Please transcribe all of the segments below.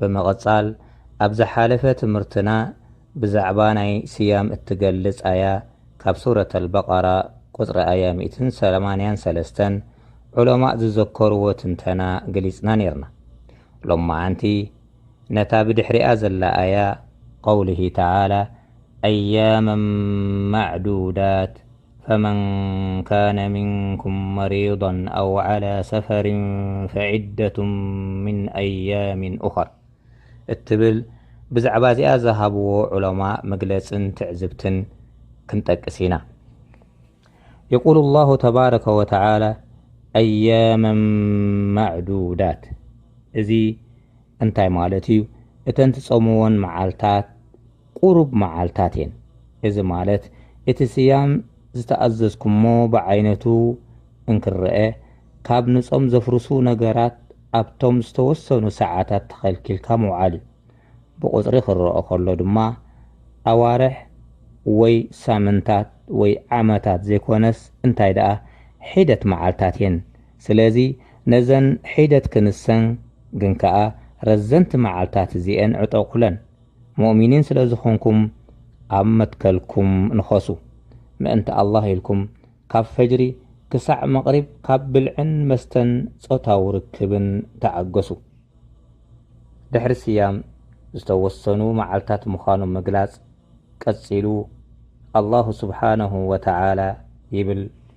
ብምቕጻል ኣብ ዝሓለፈ ትምህርትና ብዛዕባ ናይ ስያም እትገልጽ ኣያ ካብ ሱረት ኣልበቐራ ቁጽሪ ኣያ ሚእትን ሰማንያን ሰለስተን ዑለማእ ዝዘከርዎ ትንተና ገሊጽና ኔርና። ሎማዓንቲ ነታ ብድሕሪኣ ዘላ ኣያ ቐውሊሂ ተዓላ ኣያመን ማዕዱዳት ፈመን ካነ ምንኩም መሪደን ኣው ዓላ ሰፈሪን ፈዒደቱ ምን ኣያሚን ኡኸር እትብል ብዛዕባ እዚኣ ዝሃብዎ ዑለማ መግለፅን ትዕዝብትን ክንጠቅስ ኢና። የቁሉ ላሁ ተባረከ ወተዓላ ኣያመን ማዕዱዳት እዚ እንታይ ማለት እዩ? እተን ትፀምወን መዓልታት፣ ቁሩብ መዓልታት እየን። እዚ ማለት እቲ ስያም ዝተኣዘዝኩሞ ብዓይነቱ እንክረኣ፣ ካብ ንጾም ዘፍርሱ ነገራት ኣብቶም ዝተወሰኑ ሰዓታት ተኸልኪልካ ምውዓል እዩ። ብቑጽሪ ክረኦ ከሎ ድማ ኣዋርሕ ወይ ሳምንታት ወይ ዓመታት ዘይኮነስ እንታይ ደኣ ሒደት መዓልታት እየን። ስለዚ ነዘን ሒደት ክንሰን ግን ከኣ ረዘንቲ መዓልታት እዚኤን ዕጠቑለን። ሙእሚኒን ስለ ዝኾንኩም ኣብ መትከልኩም ንኸሱ። ምእንቲ ኣላህ ኢልኩም ካብ ፈጅሪ ክሳዕ መቕሪብ ካብ ብልዕን መስተን ጾታዊ ርክብን ተዓገሱ። ድሕሪ ስያም ዝተወሰኑ መዓልታት ምዃኑ ምግላጽ ቀጺሉ ኣላሁ ስብሓነሁ ወተዓላ ይብል፣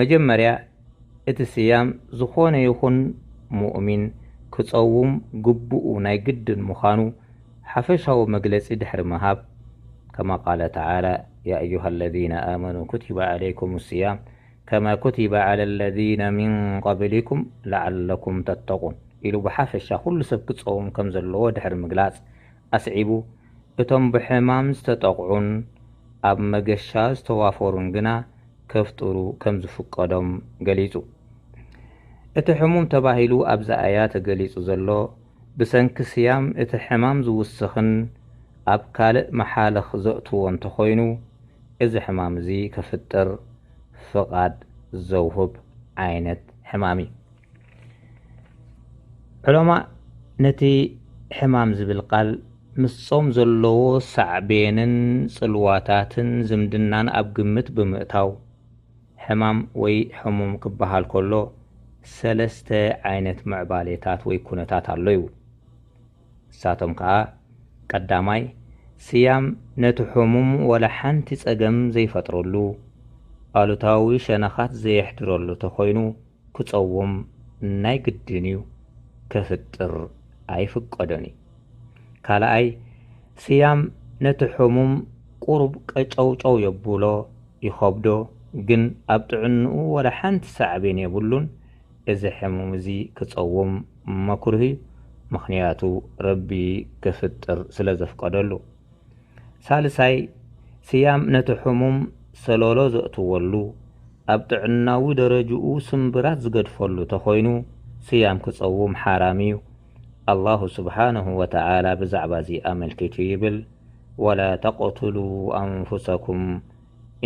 መጀመርያ እቲ ስያም ዝኾነ ይኹን ሙእሚን ክጸውም ግቡኡ ናይ ግድን ምዃኑ ሓፈሻዊ መግለጺ ድሕሪ ምሃብ፣ ከማ ቃለ ተዓላ፣ ያ ኣዩሃ ለዚነ ኣመኑ ኩቲበ ዓለይኩም ስያም ከማ ኩቲበ ዓላ ለዚነ ሚን ቀብሊኩም ለዓለኩም ተተቁን ኢሉ ብሓፈሻ ኩሉ ሰብ ክጸውም ከም ዘለዎ ድሕሪ ምግላጽ ኣስዒቡ፣ እቶም ብሕማም ዝተጠቕዑን ኣብ መገሻ ዝተዋፈሩን ግና ከፍጥሩ ከምዝፍቀዶም ገሊጹ። እቲ ሕሙም ተባሂሉ ኣብ ዛኣያ ተገሊጹ ዘሎ፣ ብሰንኪ ስያም እቲ ሕማም ዝውስኽን ኣብ ካልእ መሓልኽ ዘእትዎ እንተኾይኑ፣ እዚ ሕማም እዚ ከፍጥር ፍቓድ ዘውህብ ዓይነት ሕማም እዩ። ዕለማ ነቲ ሕማም ዝብል ቃል ምስጾም ዘለዎ ሳዕቤንን ጽልዋታትን ዝምድናን ኣብ ግምት ብምእታው ሕማም ወይ ሕሙም ክበሃል ከሎ ሰለስተ ዓይነት ምዕባሌታት ወይ ኩነታት ኣሎ ይብሉ። ንሳቶም ከኣ ቀዳማይ ስያም ነቲ ሕሙም ወላ ሓንቲ ጸገም ዘይፈጥረሉ፣ ኣሉታዊ ሸነኻት ዘየሕድረሉ ተኾይኑ፣ ክጸውም ናይ ግድን እዩ ከፍጥር ኣይፍቀዶን እዩ ካልኣይ ስያም ነቲ ሕሙም ቁሩብ ቀጨውጨው የቡሎ ይኸብዶ ግን ኣብ ጥዕንኡ ወላ ሓንቲ ሳዕቤን የብሉን እዚ ሕሙም እዚ ክጸውም መክሩህ እዩ ምኽንያቱ ረቢ ከፍጥር ስለ ዘፍቀደሉ። ሳልሳይ፣ ስያም ነቲ ሕሙም ሰሎሎ ዘእትወሉ፣ ኣብ ጥዕናዊ ደረጅኡ ስምብራት ዝገድፈሉ ተኾይኑ፣ ስያም ክጸውም ሓራም እዩ። ኣላሁ ስብሓነሁ ወተዓላ ብዛዕባ'ዚ ኣመልኪቱ ይብል፣ ወላ ተቅቱሉ ኣንፉሰኩም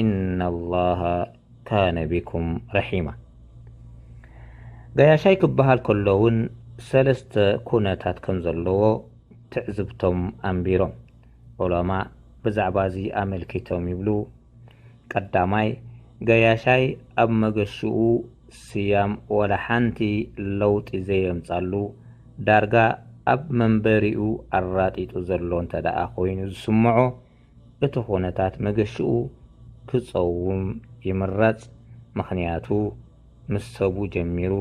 ኢነላሃ ካነ ቢኩም ረሒማ። ገያሻይ ክበሃል ከሎ'ውን ሰለስተ ኩነታት ከም ዘለዎ፣ ትዕዝብቶም ኣንቢሮም ዑለማእ ብዛዕባ'ዚ ኣመልኪቶም ይብሉ፣ ቀዳማይ፣ ገያሻይ ኣብ መገሽኡ ስያም ዋላ ሓንቲ ለውጢ ዘየምጻሉ፣ ዳርጋ ኣብ መንበሪኡ ኣራጢጡ ዘሎ እንተደኣ ኮይኑ ዝስምዖ፣ እቲ ኩነታት መገሽኡ ክጸውም ይምረጽ፣ ምኽንያቱ ምስ ሰቡ ጀሚሩ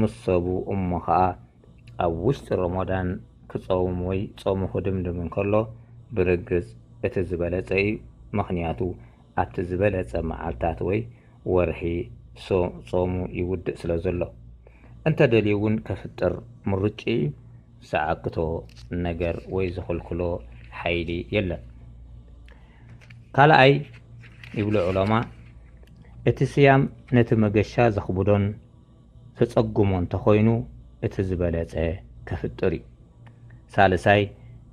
ምስ ሰቡ እሞ ከኣ ኣብ ውሽጢ ሮሞዳን ክጸውም ወይ ጾሙ ክድምድም እንከሎ ብርግጽ እቲ ዝበለጸ እዩ ምኽንያቱ ኣብቲ ዝበለጸ መዓልታት ወይ ወርሒ ጾሙ ይውድእ ስለ ዘሎ። እንተ ደልዩ እውን ከፍጥር ምርጭኡ እዩ ዝዓግቶ ነገር ወይ ዝኽልክሎ ሓይሊ የለን። ካልኣይ ይብሉ ዑለማ እቲ ስያም ነቲ መገሻ ዘኽብዶን፣ ተጸግሞ እንተኾይኑ እቲ ዝበለጸ ከፍጥር እዩ። ሳልሳይ፣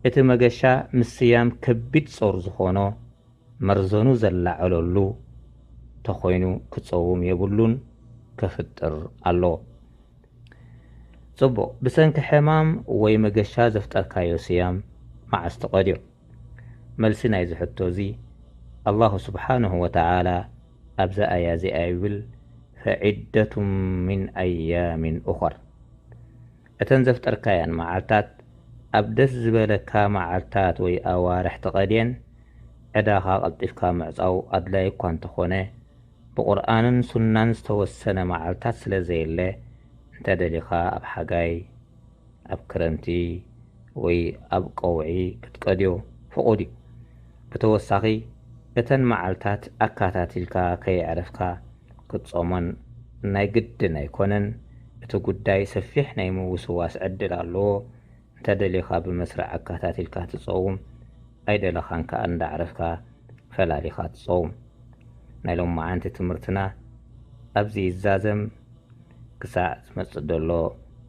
እቲ መገሻ ምስያም ከቢድ ጾር ዝኾኖ መርዘኑ ዘላዕለሉ ተኾይኑ ክጸውም የብሉን ከፍጥር ኣለዎ። ጽቡቕ፣ ብሰንኪ ሕማም ወይ መገሻ ዘፍጠርካዮ ስያም መዓስ ትቐድዮ? መልሲ ናይዚ ሕቶዚ ኣላሁ ስብሓነሁ ወተዓላ ኣብዛ ኣያ እዚኣ ይብል ፈዒደቱ ምን ኣያምን ኡኸር እተን ዘፍጠርካየን መዓልታት ኣብ ደስ ዝበለካ መዓልታት ወይ ኣዋርሕ ትቐድየን ዕዳኻ ቀልጢፍካ ምዕፃው ኣድላይ እኳ እንተኾነ ብቁርኣንን ሱናን ዝተወሰነ መዓልታት ስለዘየለ እንተደሊኻ ኣብ ሓጋይ ኣብ ክረምቲ ወይ ኣብ ቀውዒ ክትቀድዮ ፍቑድ እዩ። ብተወሳኺ እተን መዓልታት ኣካታቲልካ ከየዕረፍካ ክትጾሞን ናይ ግድን ኣይኮነን፣ እቲ ጉዳይ ሰፊሕ ናይ ምውስዋስ ዕድል ኣለዎ፣ እንተደሊኻ ብመስርዕ ኣካታቲልካ ትጸውም ኣይደለኻን ከኣ እንዳዕረፍካ ፈላሊኻ ትጸውም። ናይ ሎማዓንቲ ትምህርትና ኣብዚ ይዛዘም ክሳዕ ዝመጽእ ደሎ።